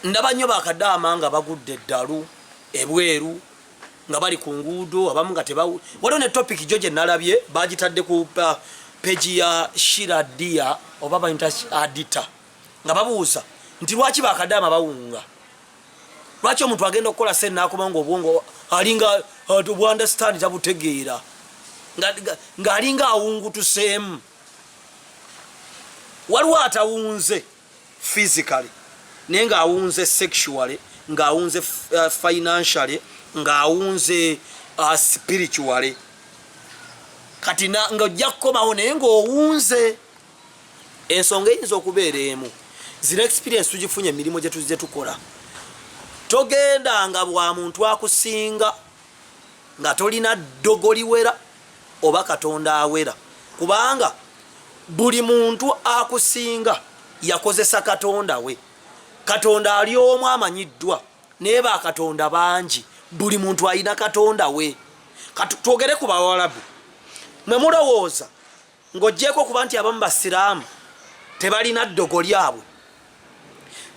Ndaba nnyo ba kadaama nga bagudde eddalu ebweru nga bali ku nguudo abamu nga teba waliwo ne topic jo gye nalabye bagitadde ku uh, peji ya shira dia oba bayinta adita nga babuuza nti lwaki ba kadaama bawunga lwaki omuntu agenda okukola sente nakuba nga obwongo alinga uh, obwandastandi tabutegeera ng'alinga awungutuseemu waliwo atawunze physically naye ng'awunze sexually ng'awunze uh, financially ng'awunze uh, spiritually kati ng'ojja kukomawo naye ng'owunze ensonga eyinza okubeera emu zino experience tugifunye emirimu gye tukola togenda nga bwa muntu akusinga nga tolina ddogo liwera oba katonda awera kubanga buli muntu akusinga yakozesa katonda we katonda ali omu amanyiddwa naye bakatonda bangi buli muntu alina katonda we katwogere ku bawalabu mwe mulowooza ng'ogyeko okuba nti abamu basiraamu tebalina ddogo lyabwe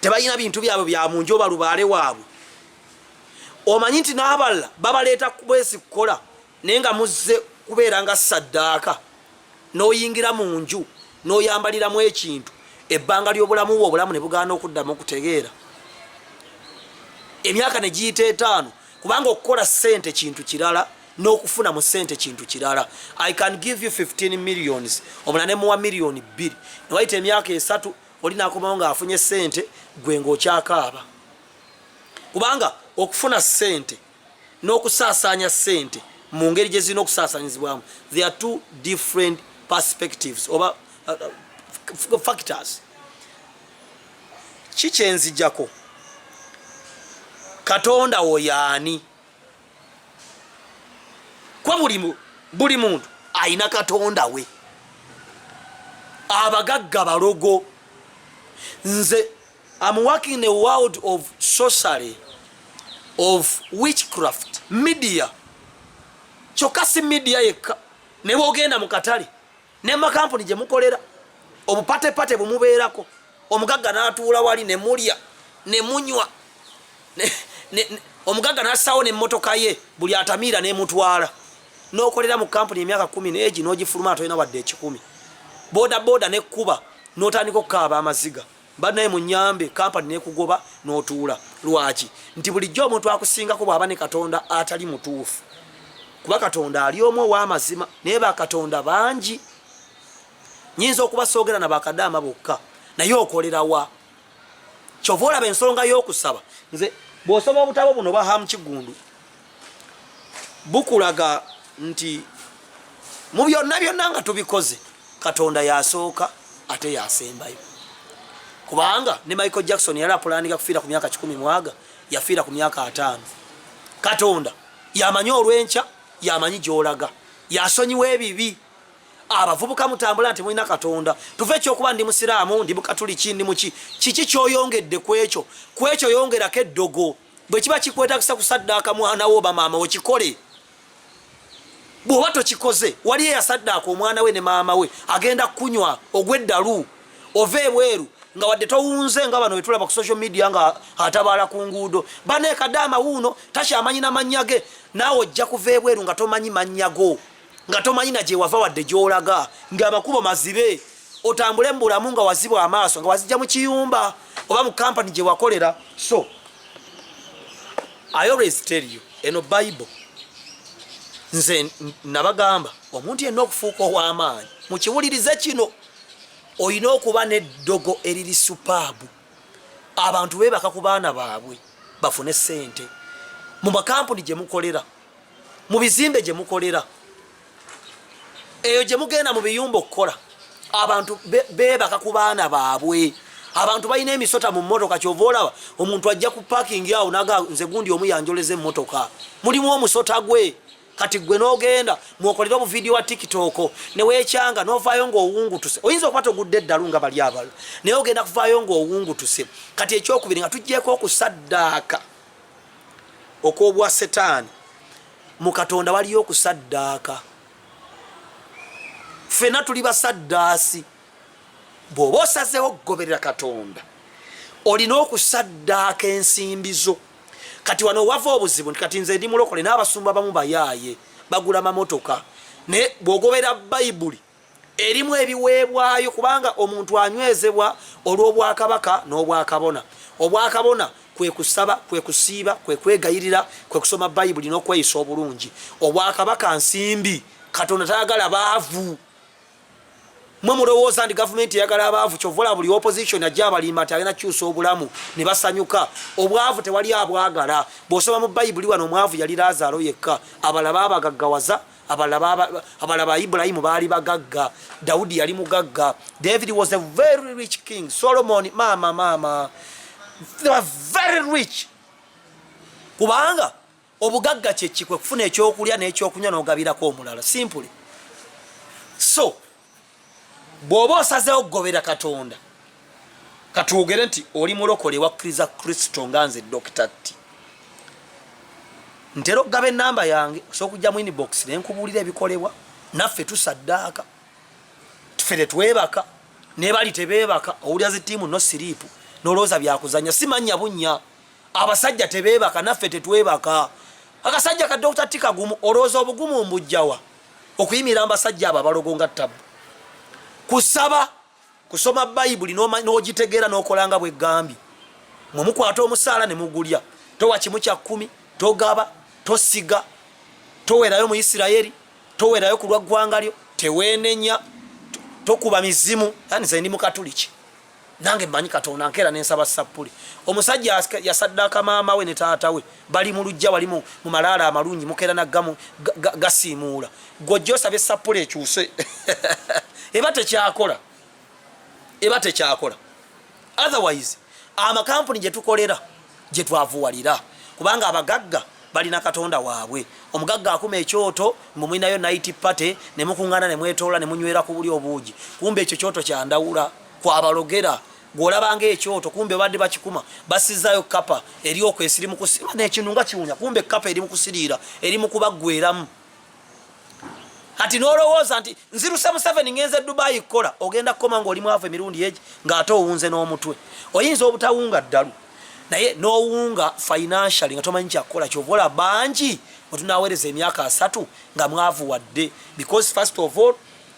tebalina bintu byabwe bya munju oba lubaale waabwe omanyi nti n'abalala babaleeta kubwezi kukola naye nga muzze kubeera nga saddaaka n'oyingira mu nju n'oyambaliramu ekintu ebbanga ly'obulamu bwe obulamu ne bugaana okuddamu okutegeera emyaka ne giyita etaano kubanga okukola ssente kintu kirala n'okufuna mu ssente kintu kirala i can give you 15 millions omula ne muwa miliyoni bbiri newayita emyaka esatu oli nakomawo ng'afunye ssente gwe ng'okyakaaba kubanga okufuna ssente n'okusaasaanya ssente mu ngeri gye zirina okusaasaanyizibwamu the are two different perspectives oba uh, uh, factors ki kyenzijako katonda wo yaani kwa buli muntu alina katonda we abagagga balogo nze I'm working in a world of sorcery, of witchcraft, media. Kyokka si media yekka ne bwogenda mu katale ne makampuni gye mukolera obupatepate bumubeerako omugagga n'atuula wali ne mulya ne munywa omugagga n'assaawo n'emmotoka ye buli atamiira n'emutwala n'okolera mu kampuni emyaka kkumi n'egi n'ogifuluma atolina wadde ekikumi boda boda n'ekkuba n'otandika okukaaba amaziga banaye munyambe kampani nekugoba notuula lwaki nti bulijjo omuntu akusingako bwaba ne katonda atali mutuufu kuba katonda ali omu owamazima naye bakatonda bangi nyinza okuba soogera na bakadaama bokka naye okolerawa kyova olaba ensonga y'okusaba nze bwosoma obutabo buno bahamu kigundu bukulaga nti mu byonna byonna nga tubikoze katonda yasooka ate yasembayo kubanga ne michael jackson yali apulaninga kufiira ku myaka kikumi mwaga yafiira ku myaka ataano katonda yamanyi olwenkya yamanyi gyolaga yasonyiwa ebibi abavubuka mutambula nti mulina katonda tuve ekyokuba ndi musiraamu ndi mukatuliki ndi muki kiki kyoyongedde kwekyo kwekyo yongerako eddogo bwe kiba kikwetagisa kusaddaaka mwana wo oba maama wo kikole bw'oba tokikoze wali eyasaddaaka omwana we ne maama we agenda kukunywa ogw'eddalu ova ebweru nga wadde towunze nga bano wetulaba ku social media nga atabaala ku nguudo baneekadde amawuuno takyamanyi na mannya ge naawe ojja kuva ebweru nga tomanyi mannya go nga tomanyi na gyewava wadde gyolaga nga amakubo mazibe otambule mu bulamu nga wazibwa amaaso nga wazijja mu kiyumba oba mu kampani gye wakolera so i always tell you eno bible nze nabagamba omuntu yenna okufuuka ow'amaanyi mukiwulirize kino olina okuba n'eddogo eriri supaabu abantu beebaka ku baana baabwe bafune ssente mu makampuni gye mukolera mu bizimbe gye mukolera eyo gye mugenda mu biyumba okukola abantu beebaka ku baana baabwe abantu balina emisota mu mmotoka kyova olaba omuntu ajja ku pakingi awo naga nze gundi omu yanjoleza emmotoka mulimu omusota gwe kati gwe n'ogenda mwokolera obuvidiyo wa tiktok neweekyanga novaayo ngaowungutuse oyinza okuba togudde eddalu nga bali abala naye ogenda kuvaayo ngaowungutuse kati ekyokubiri nga tuggyeko okusaddaaka okw'obwa setaani mu katonda waliyo okusaddaaka ffena tuli basaddaasi bw'oba osazeewo okugoberera katonda olina okusaddaaka ensimbi zo kati wano wava obuzibu nti kati nze ndi mulokole n'abasumba bamu bayaaye bagula mamotoka naye bw'ogoberera bayibuli erimu ebiweebwayo kubanga omuntu anywezebwa olw'obwakabaka n'obwakabona obwakabona kwe kusaba kwe kusiiba kwe kwegayirira kwe kusoma bayibuli n'okweyisa obulungi obwakabaka nsimbi katonda tayagala baavu mwe mulowooza nti gavumenti eyagala abaavu kyovola buli opposition ajja abalimba nti agenda kukyusa obulamu ne basanyuka obwavu tewali abwagala bw'osoma mu bayibuli wano omwavu yali laazaalo yekka abalaba abagaggawaza abalala ba ibulayimu baali bagagga dawudi yali mugagga david was a very rich king solomon maama maama they were very rich kubanga obugagga kyekikwe kufuna ekyokulya n'ekyokunywa n'ogabirako omulala simply so bw'oba osazeewo okugobera katonda katwogere nti oli mulokole wakkiriza kristo nga nze dokita tti ntera okugaba enamba yange osobola okujja mu inbox ne nkubuulira ebikolebwa naffe tusaddaaka ffe tetwebaka nebali tebeebaka owulira zi tiimu no siriipu nolowooza byakuzanya simanya bunya abasajja tebeebaka naffe tetwebaka akasajja ka dokita ttikagumu olowooza obugumu mbujjawa okuyimirira mbasajja abo abalogo nga ttabu kusaba kusoma bayibuli n'ogitegeera n'okola nga bweggambye mwe mukwata omusaala ne mugulya towa kimu kya kkumi togaba tosiga towerayo mu isirayeri towerayo ku lwa ggwanga lyo teweenenya tokuba mizimu yani ze ndi mukatuliki nange manyi katonda nkera nensaba sapuli omusajja yasaddaka maama we ne taata we bali mu lujja wali mu malaala amalungi mukera naggamu gasiimuula gwojja osaba esapuli ekyuse eba tekyakola eba tekyakola otherwise amakampuni gye tukolera gye twavuwalira kubanga abagagga balina katonda waabwe omugagga akuma ekyoto mwe mulinayo night party ne mukuŋŋana ne mwetoola ne munywera ku buli obuugi kumbe ekyo kyoto kyandawula kwabalogera gwolaba nga ekyoto kumbe badde bakikuma basizayo kapa eri okwesi eri mukusirwa nekinu nga kiwunya kumbe kapa eri mukusiriira eri mukubaggweramu kati nolowooza nti nziruse museveni ngenze dubayi kukola ogenda kukoma nga oli mwavu emirundi egi ngaate owunze n'omutwe oyinza obutawunga ddalu naye nowunga financially nga tomanyi kyakukola kyovola bangi wetunawereza emyaka asatu nga mwavu wadde because first of all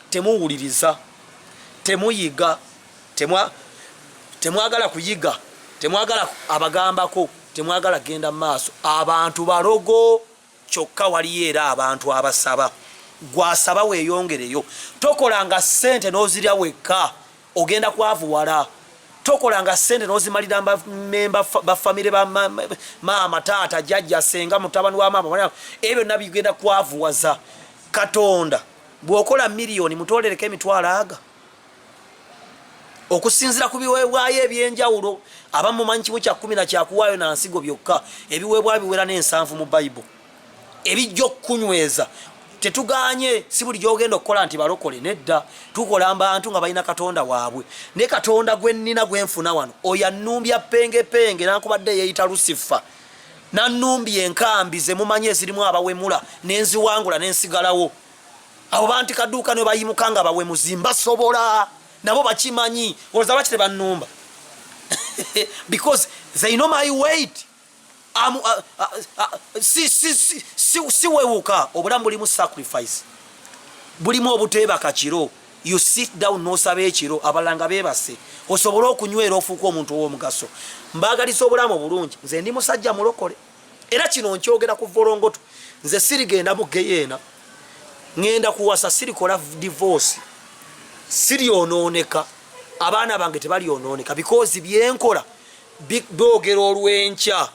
temuwuliriza temuyiga temwagala kuyiga temwagala abagambako temwagala genda maaso abantu balogo kyokka waliyo era abantu abasaba gwasaba weyongereyo tokolanga sente nozirya wekka ogenda kwavuwala tokolanga sente nozimalira memba bafamire bamaama taata jajja senga mutabani wa maama ebyo nabigenda kwavuwaza katonda bwokola miliyoni mutolereko emitwalo aga okusinzira ku biweebwayo ebyenjawulo abamu mumanyi kimu kya kumi na kyakuwaayo na nsigo byokka ebiweebwayo biwera n'ensanvu mu bayibo ebijja okukunyweza tetuganye si buli gyogenda okukola nti balokole nedda tukola mbantu nga balina katonda waabwe ne katonda gwe nnina gwe nfuna wano oyo annumbya pengepenge nankubadde yeeyita lusifa nannumbya enkambi ze mumanyi ezirimu abawemula ne nziwangula ne nsigalawo abo banti kaduuka ne bayimuka nga bawemuzi mbasobola nabo bakimanyi olza lwaki tebannumba because they know my weight am uh, uh, uh, si si si si siwewuka obulamu bulimu sacrifice bulimu obuteeba kakiro you sit down nosaba ekiro abalala nga bebase osobole okunywera ofuuka omuntu ow'omugaso mbaagaliza obulamu obulungi nze ndi musajja mulokole era kino nkyogera ku volongoto nze sirigenda mu geyeena ŋenda kuwasa sirikola divorce siryonooneka abaana bange tebalyonooneka bikoozi byenkola bidogera olw'enkya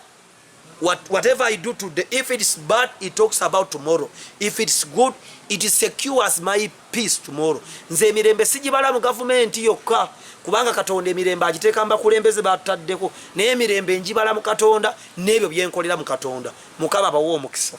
What, whatever I do today, if it's bad, it talks about tomorrow. If it's good, it secures my peace tomorrow. Nze emirembe sijibala mu gavumenti yokka kubanga Katonda emirembe agiteeka mbakulembeze bataddeko naye emirembe njibala mu Katonda n'ebyo byenkolera mu Katonda. Mukama bawe omukisa.